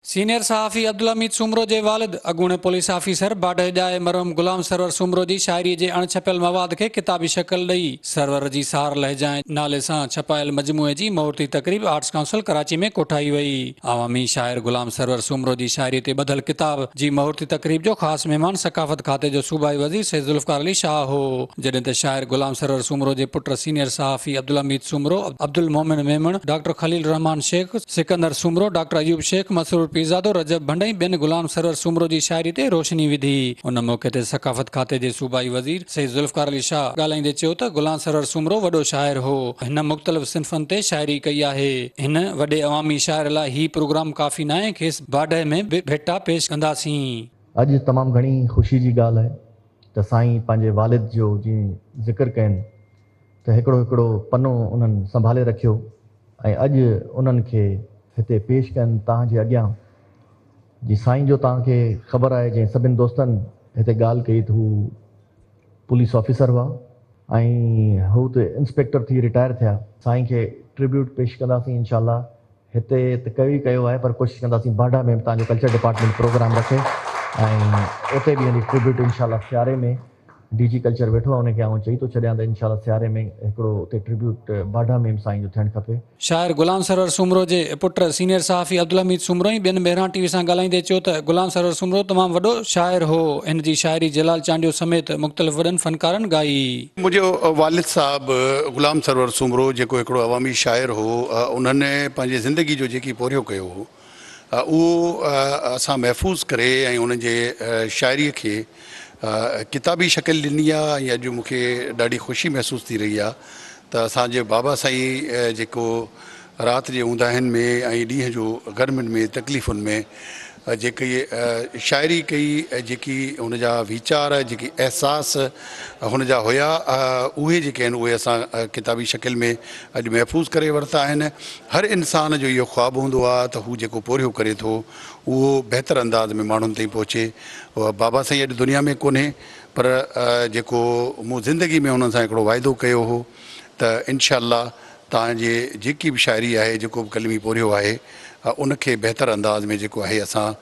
Senior صحافي عبدالحميد سومرو جي والد اڳوڻي پوليس آفيسر باڊهه ڄائي مرحوم غلام سرور سومرو جي شاعري جي اڻ ڇپيل مواد کي ڪتابي شڪل ڏئي سرور جي سار لهجائين نالي سان ڇپايل مجموعي جي مهورتي تقريب آرٽس ڪائونسل ڪراچي ۾ ڪوٺائي وئي عوامي شاعر غلام سرور سومرو جي شاعري تي ٻڌل ڪتاب جي مهورتي تقريب جو خاص مهمان ثقافت کاتي جو صوبائي وزير سيد ذوالفقار علي شاهه هو. جڏهن ته شاعر غلام سرور سومرو جي پٽ سينيئر صحافي عبدالحميد سومرو، عبدالمومن ميمڻ، ڊاڪٽر خليل الرحمان شيخ، سڪندر سومرو، ڊاڪٽر ايوب شيخ، مسرور پيرزادو، رجب ڀنڊ ۽ ٻين غلام سرور سومرو جي شاعري تي روشني وڌي. ان موقعي تي ثقافت کاتي جي صوبائي وزير سيد ذوالفقار علي شاهه ڳالهائيندي چيو ته غلام سرور سومرو وڏو شاعر هو، هن مختلف صنفن تي شاعري ڪئي آهي، هن وڏي عوامي شاعر لاء هي پروگرام ڪافي ناهي، کيس باڊهه ۾ به ڀيٽا پيش ڪنداسين. اڄ تمام گهڻي خوشي جي ڳالهه آهي ته سائين پنهنجي والد جو جيئن ذڪر ڪين ته هڪڙو هڪڙو پنو انهن سنڀالي رکيو ۽ اڄ انهن کي هتي پيش ڪين تان جي اڳيان جي سائين جو تان کي خبر آهي جنهن سڀن دوستن هتي ڳالهه ڪئي ته هو پوليس آفيسر هئا ۽ هو ته انسپيڪٽر ٿي رٽائر ٿيا. سائين کي ٽربيوٽ پيش ڪنداسين انشاء الله هتي ته ڪيو ئي ڪيو آهي پر ڪوشش ڪنداسين باڊا ۾ به تهان جو ڪلچر ڊپارٽمينٽ پروگرام رکي ۽ اتي به يعنيٰ ٽربيوٽ ان شاء الله سياري ۾ ڊي جي ڪلچر ويٺو آهي ان کي آئون چئي ٿو ڇڏيان ته ان شاء الله سياري ۾ هڪڙو اتي ٽربيوٽ باڊا ۾ به سائين جو ٿيڻ کپي. شاعر غلام سرور سومرو جي پٽ سينيئر صحافي عبدالحميد سومرو ۽ ٻين مهراڻ ٽي وي سان ڳالهائيندي چيو ته غلام سرور سومرو تمام وڏو شاعر هو هن جي شاعري جلال چانڊيو سميت مختلف وڏن فنڪارن ڳائي. منهنجو والد صاحب غلام سرور سومرو جيڪو هڪڙو عوامي شاعر هو انهن پنهنجي زندگي جو جيڪي پورهيو ڪيو هو اهو اسان محفوظ ڪري ۽ انهن جي شاعري کي ڪتابي شڪل ڏني آهي ۽ اڄ مون کي ڏاڍي خوشي محسوس ٿي رهي آهي ته اسان جي بابا سائين جيڪو رات جي اونداهين ۾ ۽ ڏينهن جو گرمين ۾ تڪليفن ۾ جيڪي شاعري ڪئي، جيڪي هن جا ويچار، جيڪي احساس هن جا هيا، اهي جيڪي آهن اهي اسان ڪتابي شڪل ۾ اڄ محفوظ ڪري ورتا آهن. هر انسان جو اهو خواب هوندو آ ته هو جيڪو پورهيو ڪري ٿو اهو بهتر انداز ۾ ماڻهن تائين پهچي. بابا سائين اڄ دنيا ۾ ڪونهي پر جيڪو مون زندگي ۾ انهن سان هڪڙو واعدو ڪيو هو ته انشاء الله توهان جي جيڪي به شاعري آهي جيڪو به قلمي پورهيو آهي ان کي بهتر انداز ۾ جيڪو آهي اسان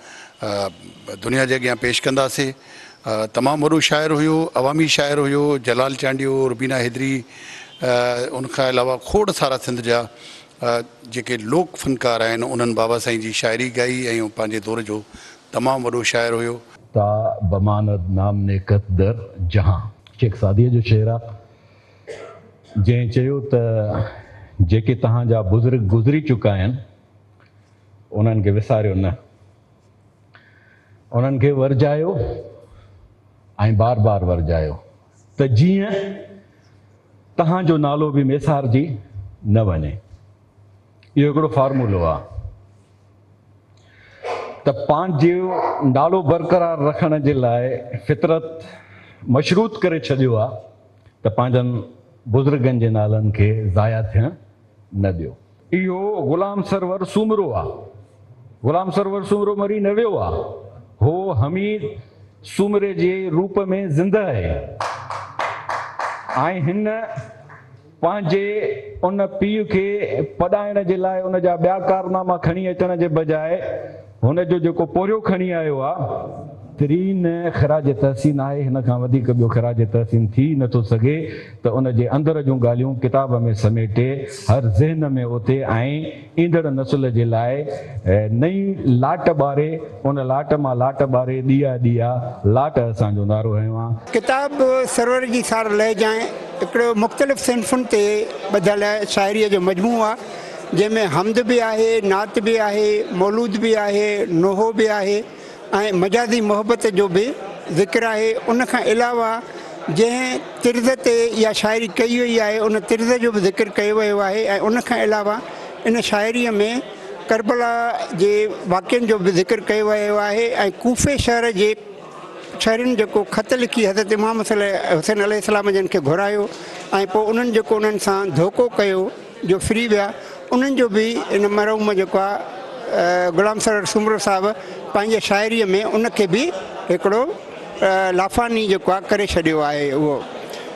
دنيا جي اڳيان پيش ڪنداسي تمام وڏو شاعر هيو عوامي شاعر هيو جلال چانڊيو روبينا حيدري ان کان علاوه کوڙ سارا سنڌ جا جيڪي لوڪ فنڪار آهن انهن بابا سائين جي شاعري ڳائي ۽ پنهنجي دور جو تمام وڏو شاعر هيو. تا بماند نام نيڪت در جهان هڪ سعديء جو شعر آهي. جنهن چيو ته جيڪي توهان جا بزرگ گذري چڪا آهن انهن کي وساريو نه انهن کي ورجايو ۽ بار بار ورجايو ته جيئن توهان جو نالو به وسارجي نه وڃي اهو هڪڙو فارمولو آهي ته پنهنجو نالو برقرار رکڻ جي لاء فطرت مشروط ڪري ڇڏيو آهي ته پنهنجن بزرگن جي نالن کي ضايع ٿيڻ نه ڏيو. اهو غلام سرور سومرو آ. غلام سرور سومرو مري نه ويو آ. هو حميد سومري جي روپ ۾ زندهه اهي ۽ هن پنهنجي ان پيء کي پڏائڻ جي لاء ان جا ٻيا ڪارناما کڻي اچڻ جي بجاء هن جو جيڪو پورهيو کڻي آيو آ تري نه خراج تحسين آهي هن کان وڌيڪ ٻيو خراج تحسين ٿي نه ٿو سگهي ته ان جي اندر جون ڳالهيون ڪتاب ۾ سميٽي هر ذهن ۾ اوتي ۽ ايندڙ نسل جي لاء نئين لاٽ ٻاري ان لاٽ مان لاٽ ٻاري ڏيئا ڏيئا لاٽ اسان جو نعرو هنيو آ. ڪتاب سرور جي سار لهجائن هڪڙو مختلف صنفن تي ٻڌل شاعريء جو مجموعو آ. جنهن ۾ حمد به آهي، نعت به آهي، مولود به آهي، نوحو به آهي ۽ مجازي محبت جو به ذڪر آهي، ان کان علاوه جنهن طرز تي اها شاعري ڪئي وئي آهي ان طرز جو به ذڪر ڪيو ويو آهي ۽ ان کان علاوه ان شاعريء ۾ ڪربلا جي واقعن جو به ذڪر ڪيو ويو آهي ۽ ڪوفي شهر جي شهرين جيڪو خط لکي حضرت امام حسين عليه السلام جن کي گهرايو ۽ پوء انهن جيڪو انهن سان ڌوڪو ڪيو جو ڦري ويا انهن جو به ان مرحوم جيڪو آ غلام سرور سومرو صاحب پنهنجي شاعري ۾ ان کي به هڪڙو لافاني جيڪو آ ڪري ڇڏيو آهي اهو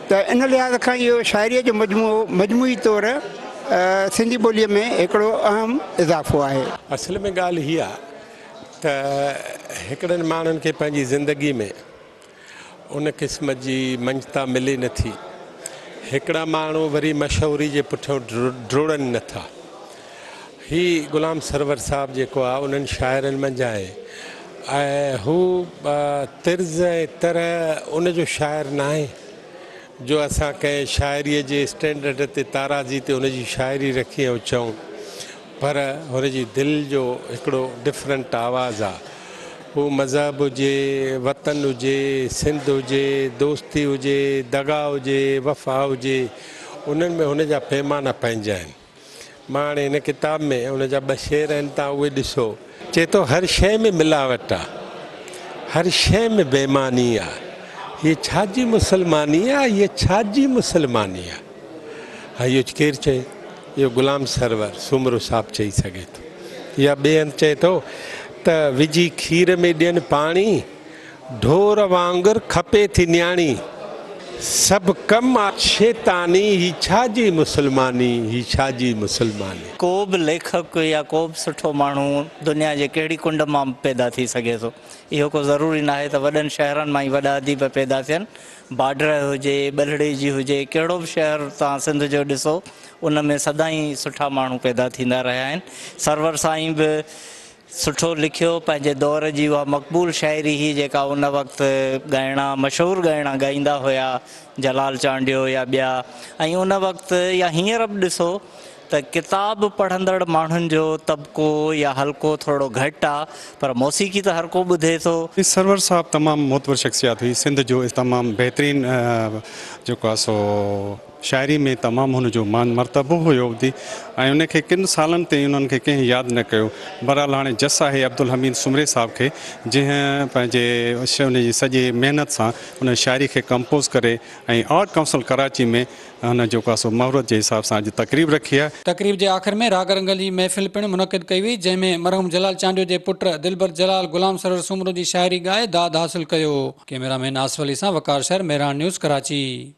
ته ان لحاظ کان اهو شاعري جو مجموعو مجموعي طور سنڌي ٻولي ۾ هڪڙو اهم اضافو آهي. اصل ۾ ڳالهه هي آ ته هڪڙن ماڻهن کي پنهنجي زندگي ۾ ان قسم جي مڃتا ملي نه ٿي. هڪڙا ماڻهو وري مشهوري جي پٺيان ڊوڙن نه ٿا. هي غلام سرور صاحب جيڪو آهي انهن شاعرن منجهان آهي ۽ هو طرز ۽ طرح ان جو شاعر ناهي. جو اسان ڪنهن شاعريء جي اسٽينڊرڊ تي تارازي تي هن جي شاعري رکي ۽ چئون پر هن جي دل جو هڪڙو ڊفرنٽ آواز آ پوء مذهب هجي وطن هجي سنڌ هجي دوستي هجي دغا هجي وفا هجي انهن ۾ هن جا پيمانا پنهنجا آهن. مان هاڻي هن ڪتاب ۾ ان جا ٻه شعر آهن تان اهي ڏسو. چئي ٿو هر شيء ۾ ملاوٽ آ. هر شيء ۾ بيماني آ. هيء ڇا جي مسلماني آ. هيء ڇا جي مسلماني آ. ها اهو ڪير چئي؟ اهو غلام سرور سومرو صاحب چئي سگهي ٿو. يا ٻئي هنڌ چئي ٿو ته وجهي کير ۾ ڏين پاڻي. ڍور وانگر کپي ٿي نياڻي، سڀ ڪم آ شيطاني، هي ڇا جي مسلماني، هي ڇا جي مسلماني. ڪو به ليکڪ يا ڪو به سٺو ماڻهو دنيا جي ڪهڙي ڪنڊ مان به پيدا ٿي سگهي ٿو. اهو ڪو ضروري ناهي ته وڏن شهرن مان ئي وڏا اديب پيدا ٿين. باڊرهه هجي، ٻلهڙي جي هجي، ڪهڙو به شهر توهان سنڌ جو ڏسو، ان ۾ سدائين سٺا ماڻهو پيدا ٿيندا رهيا آهن. سرور سائين به سٺو لکيو، پنهنجي دور جي اها مقبول شاعري هئي جيڪا ان وقت ڳائڻا مشهور ڳائڻا ڳائيندا هيا جلال چانڊيو يا ٻيا ۽ ان وقت يا هينئر به ڏسو ته ڪتاب پڙهندڙ ماڻهن جو طبقو يا حلقو ٿورڙو گهٽ آ پر موسيقي ته هرڪو ٻڌي ٿو. سرور صاحب تمام معتبر شخصيات هئي سنڌ جو تمام بهترين جيڪو آ سو. شاعري ۾ تمام هن جو مان مرتبو هيو ابدي ۽ ان کي ڪن سالن تائين انهن کي ڪنهن ياد نه ڪيو بهرحال هاڻي جس آهي عبدالحميد سومري صاحب کي جنهن پنهنجي ان جي سڄي محنت سان ان شاعري کي ڪمپوز ڪري ۽ آرٽ ڪائونسل ڪراچي ۾ هن جيڪو آهي سو مهورت جي حساب سان اڄ تقريب رکي آهي. تقريب جي آخر ۾ راڳ رنگ جي محفل پڻ منعقد ڪئي وئي جنهن ۾ مرحوم جلال چانڊيو جي پٽ دلبر جلال غلام سرور سومرو جي شاعري ڳائي داد حاصل ڪيو. ڪئميرا مين آصف علي سان وقار شر، مهراڻ نيوز ڪراچي.